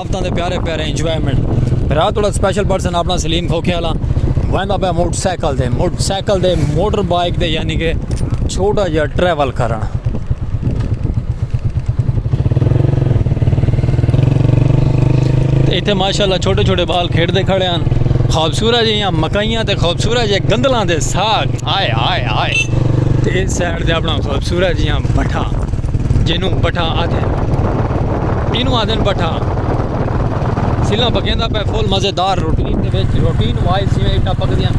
افتاں دے پیارے پیارے انجوائمنٹ رات وڑا سپیشل پرسن اپنا سلیم کھوکھے والا ویندا پہ موٹر سائیکل دے موٹر سائیکل دے موٹر بائک دے یعنی کہ چھوٹا جا ٹریول کرن ایتھے ماشاءاللہ چھوٹے چھوٹے بال کھیڑ دے کھڑے ہیں خوبصورت جی مکائیاں تے خوبصورت جی گندلاں دے ساگ آئے آئے آئے تے کر دیا بنا خوبصورت جیاں بٹھا جنوں بٹھا آدھے اینوں آدھے بٹھا سیلا پکیں دا پہ فل مزے دار روٹین دے وچ روٹین وائز جیویں اٹا پک دیاں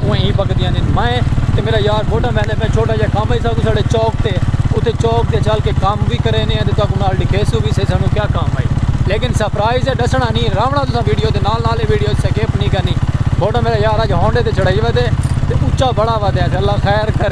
اویں ہی پک دیاں نہیں میں تے میرا یار بوٹا میں نے پہ چھوٹا جا کام ہے ساکو ساڑے چوک تے اتے چوک تے چل کے کام بھی کرے نے تے تاکو نال دکھے سو بھی سے سانو کیا کام ہے لیکن سرپرائز ہے ڈسنا نہیں راونا تو ویڈیو دے نال نال ویڈیو سکیپ نہیں کرنی بوٹا میرا یار اج ہونڈے تے چڑھائی ودے تے اچا بڑا ودے اللہ خیر کرے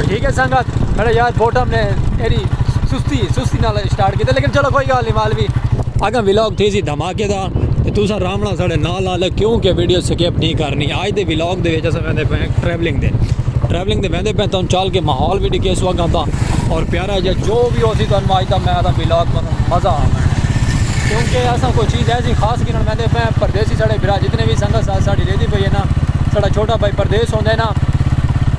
ٹھیک ہے سنگت میرا یار بوٹم نے ایری سستی سستی نال سٹارٹ کیتا لیکن چلو کوئی گل نہیں مال بھی اگا ولاگ تھی سی دھماکے دار تے تساں رامنا ساڈے نال نال کیوں کہ ویڈیو سکپ نہیں کرنی اج دے ولاگ دے وچ اساں ویندے پے ٹریولنگ دے ٹریولنگ دے ویندے پے توں چل کے ماحول بھی ڈکے سو اگا دا اور پیارا جا جو بھی ہو سی توں اج دا میں دا ولاگ توں مزہ آ کیونکہ اساں کوئی چیز ایسی خاص گنن ویندے پے پردیسی ساڈے بھرا جتنے بھی سنگت ساڈی رہدی پئی ہے نا ساڈا چھوٹا بھائی پردیس ہوندا ہے نا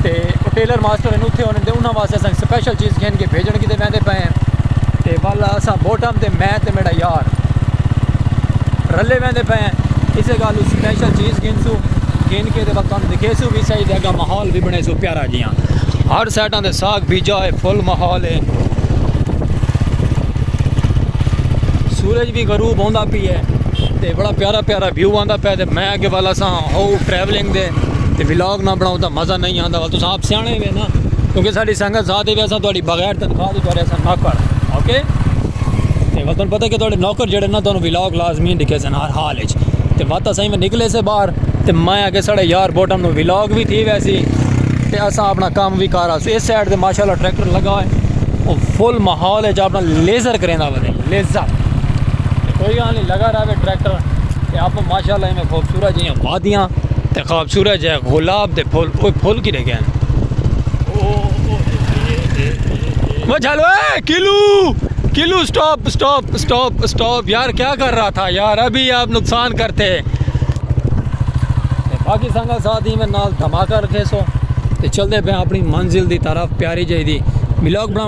تے او ٹیلر ماسٹر ہن اتھے ہوندے انہاں واسطے اساں سپیشل چیز گھن کے بھیجن کیتے ویندے پئے ہیں تے والا اساں بوٹم تے میں تے میرا یار رلے ویندے پئے ہیں اسے گالو سپیشل چیز گھن سو گھن کے تے وقت ہم دکھے سو بھی صحیح دے گا ماحول بھی بنے سو پیارا جیاں ہر سائٹاں دے ساگ بیجا ہے فل ماحول ہے سورج بھی غروب ہوندا پی ہے تے بڑا پیارا پیارا ویو آندا پیا تے میں اگے والا اساں ہو ٹریولنگ دے تے ولاگ نہ بناؤں تا مزہ نہیں آندا والا تساں آپ سیانے ہوئے نا کیونکہ ساڑی سنگت ساتھ ہی ویسا تھوڑی بغیر تنخواہ دی تھوڑے اساں نوکر اوکے تے وطن پتہ کہ تھوڑے نوکر جڑے نا تھوڑے ولاگ لازمی ڈکھے سن ہر حال اچ تے وقت اساں میں نکلے سے باہر تے میں اگے ساڑے یار بوٹم نو ولاگ بھی تھی ویسی تے اساں اپنا کام بھی کارا سو اس سائڈ دے ماشاءاللہ ٹریکٹر لگا ہوئے وہ فل محول اچ اپنا لیزر کریں دا بنے لیزر تے کوئی گال نی لگا رہوے ٹریکٹر تے اپ ماشاءاللہ ایویں خوبصورت جیاں وادیاں تے خوبصورت جے گلاب دے پھول اوے پھول کی رکھے ہیں وہ چلو اے kilo kilo stop stop stop stop یار کیا کر رہا تھا یار ابھی آپ نقصان کرتے ہیں باقی سنگا ساتھ ہی میں نال دھماکہ رکھے سو تے چل دے پہ اپنی منزل دی طرف پیاری جائی دی بلاک بنا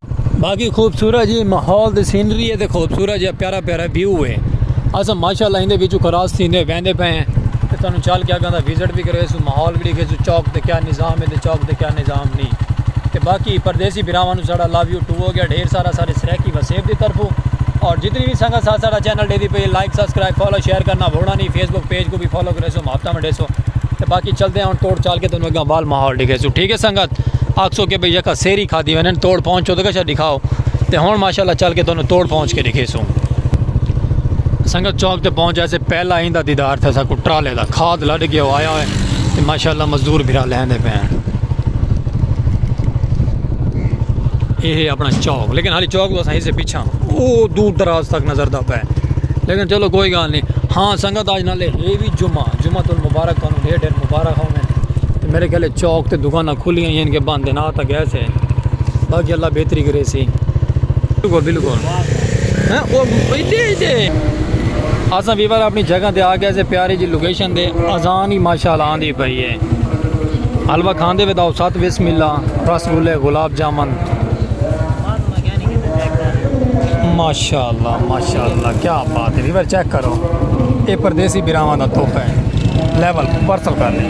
باقی خوبصورت جی ماحول دی سینری ہے تے خوبصورت جی پیارا پیارا ویو ہے اساں ماشاءاللہ ہندے وچوں کراس تھیندے ویندے پے ہیں تے تانوں چل کے اگاں دا وزٹ وی کریسوں ماحول وی ڈیکھیسوں چوک تے کیا نظام ہے تے چوک تے کیا نظام نہیں تے باقی پردیسی بھراواں نوں ساڈا لو یو ٹو ہو گیا ڈھیر سارا سارے سرائیکی وسیب دی طرفوں اور جتنی بھی سنگت ساتھ ساڈا چینل ڈیدی پئی لائک سبسکرائب فالو شیئر کرنا بھولنا نہیں فیس بک پیج کو بھی فالو کریسو محبتاں ونڈیسو تے باقی چلدے ہیں ہن توڑ چال کے تانوں اگاں وال ماحول ڈیکھیسوں ٹھیک ہے سنگت آکھسو کہ بھئی یکا سیری کھا دی ونن توڑ پہنچ چو دکھا دکھاؤ تے ہن ماشاءاللہ چل کے تانوں توڑ پہنچ کے دکھے سوں سنگت چوک تے پہنچ جائے سے پہلا ایندا دیدار تھا سا کو ٹرالے دا کھاد لڑ گیا ہو آیا ہوئے تے ماشاءاللہ مزدور بھرا لین دے پین یہ ہے اپنا چوک لیکن حالی چوک تو صحیح سے پیچھا او دور دراز تک نظر دا پے لیکن چلو کوئی گال نہیں ہاں سنگت آج نالے ہے بھی جمعہ جمعہ تو مبارک کانوں ڈھیر ڈھیر مبارک ہوں میں میرے کہلے چوک تے دکانہ کھلیاں ہین کے بند ہین آ تا گئے سے باقی اللہ بہتری کرے سی بلکل بلکل ہیں او ایڈے ایڈے اساں ویور اپنی جگہ تے آ گئے سے پیاری جی لوکیشن دے اذان ہی ماشاءاللہ آندی پئی ہے حلوہ کھاندے وے داؤ سات بسم اللہ رس گلے گلاب جامن ماشاءاللہ ماشاءاللہ کیا بات ہے ویور چیک کرو اے پردیسی براواں دا تحفہ ہے لیول پرسل کر لیں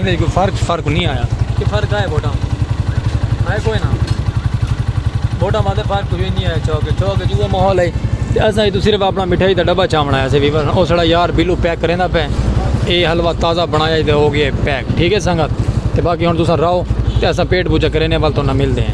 ایندے وچ کوئی فرق فرق نی آیا۔ کی فرق آئے ووٹاں وچ؟ آئے کوئ نہ۔ ووٹاں واسطے فرق کچھ وی نی آیا چوک وچ۔ چوک وچ اوہو ماحول ہئی۔ تے اساں اتھوں صرف اپݨا مٹھائی دا ݙبہ چاوݨ آیا سے ویور او ساݙا یار بلو پیک کریندا پئے۔ اے حلوہ تازہ بݨایا ہئی تے ہو ڳیا ہئی پیک۔ ٹھیک ہئی سنگت۔ تے باقی ہݨ تساں رہو تے اساں پیٹ پوجا کرینے ول تہاݙے نال ملدے ہیں۔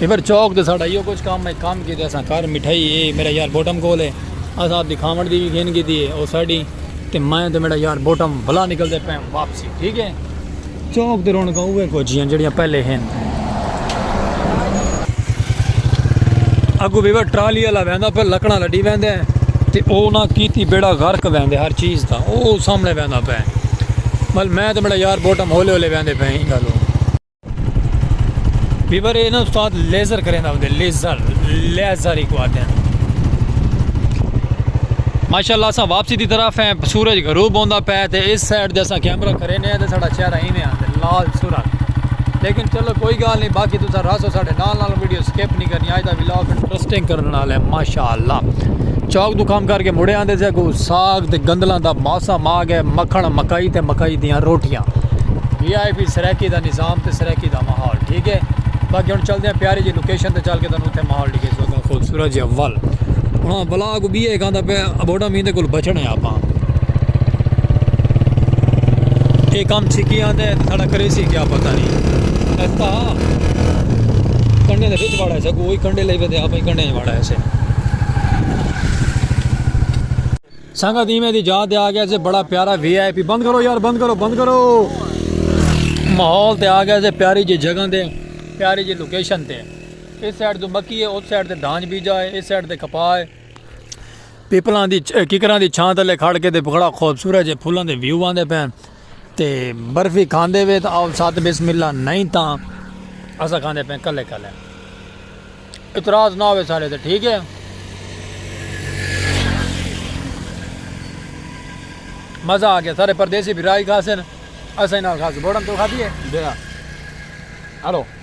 ایور چوک تے ساڈا ایہو کچھ کم ہے کم کیتے اساں کر مٹھائی اے میرا یار بوٹم کول ہے اساں اپنی کھاون دی وی گھن کیتی ہے او ساڈی تے میں تے میڈا یار بوٹم بلا نکلدے پئے آں واپسی ٹھیک ہے چوک تے رونقاں اوہے کچھ ہن جیڑھیاں پہلے ہن۔ اگو ویور ٹرالی آلا ویندا پئے لکڑاں لڈی ویندے تے او نہ کیتی بیڑا غرق ویندے ہر چیز دا او سامنے ویندا پئے ول میں تے میڈا یار بوٹم ہولے ہولے ویندے پئے ایں گالوں۔ بیبر یہ نا استاد لیزر کریں دا ہوندے لیزر لیزر ہی کو آتے ہیں ماشاءاللہ اساں واپسی دی طرف ہیں سورج غروب ہوندا پے تے اس سائیڈ دے اساں کیمرہ کرے نے تے ساڈا چہرہ ہی میں آندے لال سورج لیکن چلو کوئی گال نہیں باقی تساں راسو ساڈے نال نال ویڈیو سکپ نہیں کرنی اج دا ولاگ انٹرسٹنگ کرن والا ہے ماشاءاللہ چوک دو کام کر کے مڑے آندے سے کو ساگ تے گندلاں دا موسم آ گئے مکھن مکائی تے مکائی دیاں روٹیاں وی آئی پی سرائیکی دا نظام تے سرائیکی دا ماحول ٹھیک ہے باقی ہن چلدے ہیں پیاری جی لوکیشن تے چل کے تانوں اتھے ماحول ڈیکھے سو گا خوبصورت جی اول ہاں بلا کو بی ایک آندا پہ ابوڈا میندے کول بچنے آپاں اے کام چھکی آندے ہیں ساڑا کریسی کیا پتہ نہیں ایسا کنڈے دے وچ واڑا ہے سا کوئی کنڈے لے ودے آپاں کنڈے واڑا ہے سے سنگت ایویں دی جا تے آ گیا سے بڑا پیارا وی آئی پی بند کرو یار بند کرو بند کرو ماحول تے آ گیا سے پیاری جی جگہ تے پیاری جی لوکیشن تے اس سائڈ تو مکی ہے اس سائڈ تے دھانج بیجا ہے اس سائڈ تے کپا ہے پیپلاں دی ککراں دی چھاں تلے کھڑ کے تے بڑا خوبصورت جے پھولاں دے ویو آندے پین تے برفی کھاندے وے تاں آؤ ساتھ بسم اللہ نئیں تاں اساں کھاندے پئیں کلے کلے اعتراض نہ ہوے سارے تے ٹھیک ہے مزہ آ گیا سارے پردیسی بھی رائی کھاسن اساں نال کھاس بوڑن تو کھا دیے ہلو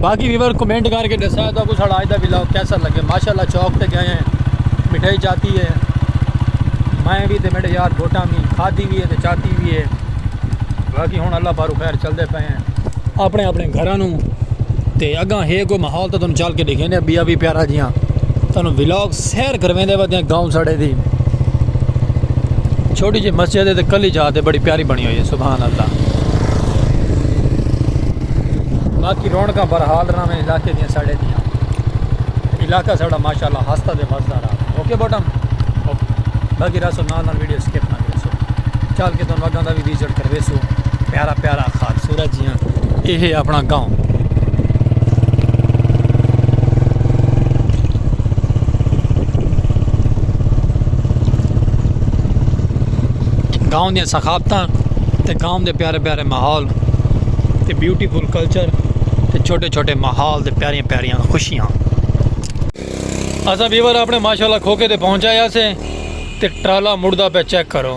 باقی ویور کمنٹ کر کے دسا تو کو ساڑا آج دا ویلاگ کیسا لگے ماشاءاللہ چوک تے گئے ہیں مٹھائی چاتی ہے میں بھی تے میرے یار بوٹاں بھی کھادی بھی ہے تے چاتی بھی ہے باقی ہن اللہ بارو خیر چل دے پے ہیں اپنے اپنے گھراں نو تے اگاں ہے کوئی ماحول تو تن چل کے دیکھیں نے بیا بھی پیارا جیاں تن ویلاگ سیر کرویندے ودیاں گاؤں ساڑے دی چھوٹی جی مسجد ہے تے کلی جا تے بڑی پیاری بنی ہوئی ہے سبحان اللہ باقی رونکاں برحال رہا میں علاقے دیاں ساڑے دیاں علاقہ ساڑا ماشاءاللہ ہستا دے وزدہ رہا اوکے بوٹم باقی رہا سو نال نال ویڈیو سکیپ نہ کرے سو چال کے تن وگاں دا بھی ویزٹ کروے سو پیارا پیارا خال سورج جیاں اے ہے اپنا گاؤں گاؤں دیا ثقافت تے گاؤں دے پیارے پیارے ماحول تے بیوٹیفل کلچر تے چھوٹے چھوٹے ماحول دے پیاریاں پیاریاں خوشیاں اصا بیور اپنے ماشاء اللہ کھوکے تے پہنچایا سے تے ٹرالا مڑدا پہ چیک کرو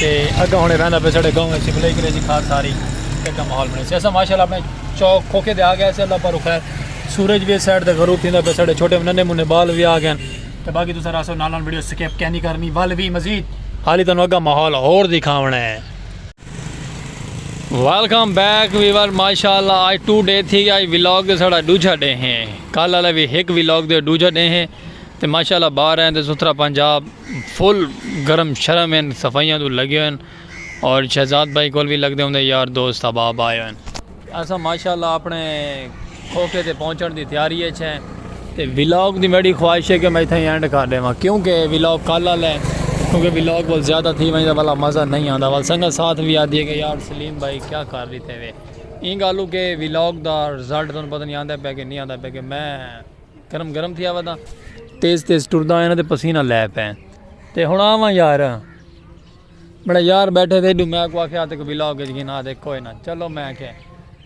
تے اگاں ہن ویندا پے ساڈے گاؤں وچ بلے کرے جی کھاد ساری ایک ماحول بنے سی ایسا ماشاءاللہ اپنے چوک کھوکے دے آ گیا سی اللہ پر خیر سورج وی سائڈ تے غروب تھیندا پے ساڈے چھوٹے ننے منے بال وی آ گئے تے باقی تساں راسو نال نال ویڈیو سکپ کینی کرنی ول وی مزید حالی تانوں اگاں ماحول ہور دکھاونا ہے ویلکم بیک ویور ماشاءاللہ آج ٹو ڈے تھی گیا ویلاگ دے ساڑا ڈوجھا ڈے ہیں کل والا بھی ہک ویلاگ دے ڈوجھا ڈے ہیں تے ماشاءاللہ باہر ہیں تے ستھرا پنجاب فل گرم شرم ہن صفائیاں توں لگے ہوئے ہن اور شہزاد بھائی کول وی لگدے ہوندے یار دوست احباب آئے ہوئے ہن۔ اساں ماشاءاللہ اپنے کھوکھے تے پہنچݨ دی تیاری اچ ہیں تے ولاگ دی میݙی خواہش ہے کہ میں اتھائیں اینڈ کر ݙیواں کیوں کہ ولاگ کل آلا ہے کیوں کہ ولاگ ول زیادہ تھی ونڄ تاں ولا مزہ نئیں آندا ول سنگت ساتھ وی آہدی ہے کہ یار سلیم بھائی کیا کر ݙتے وے ایں ڳالھوں کہ ولاگ دا رزلٹ تہاݙوں پتہ نئیں آندا پیا کہ نئیں آندا پیا کہ میں گرم گرم تھیا ودا تیز تیز ٹردا آیا نا تے پسینہ لے پے تے ہن آواں یار بڑا یار بیٹھے تھے ڈو میں کو آکھیا تے کوئی ولاگ اچ گھنا دے کوئی نہ چلو میں کہ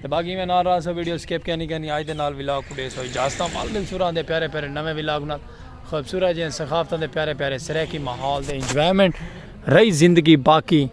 تے باقی میں نال رہا سو ویڈیو سکپ کینی کینی آج دے نال ولاگ کو دے سو اجازت مال دل سوراں دے پیارے پیارے نویں ولاگ نال خوبصورت جے ثقافتاں دے پیارے پیارے سرے کی ماحول دے انجوائمنٹ رہی زندگی باقی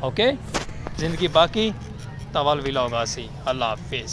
اوکے زندگی باقی تاں ول ولاگ آسی اللہ حافظ۔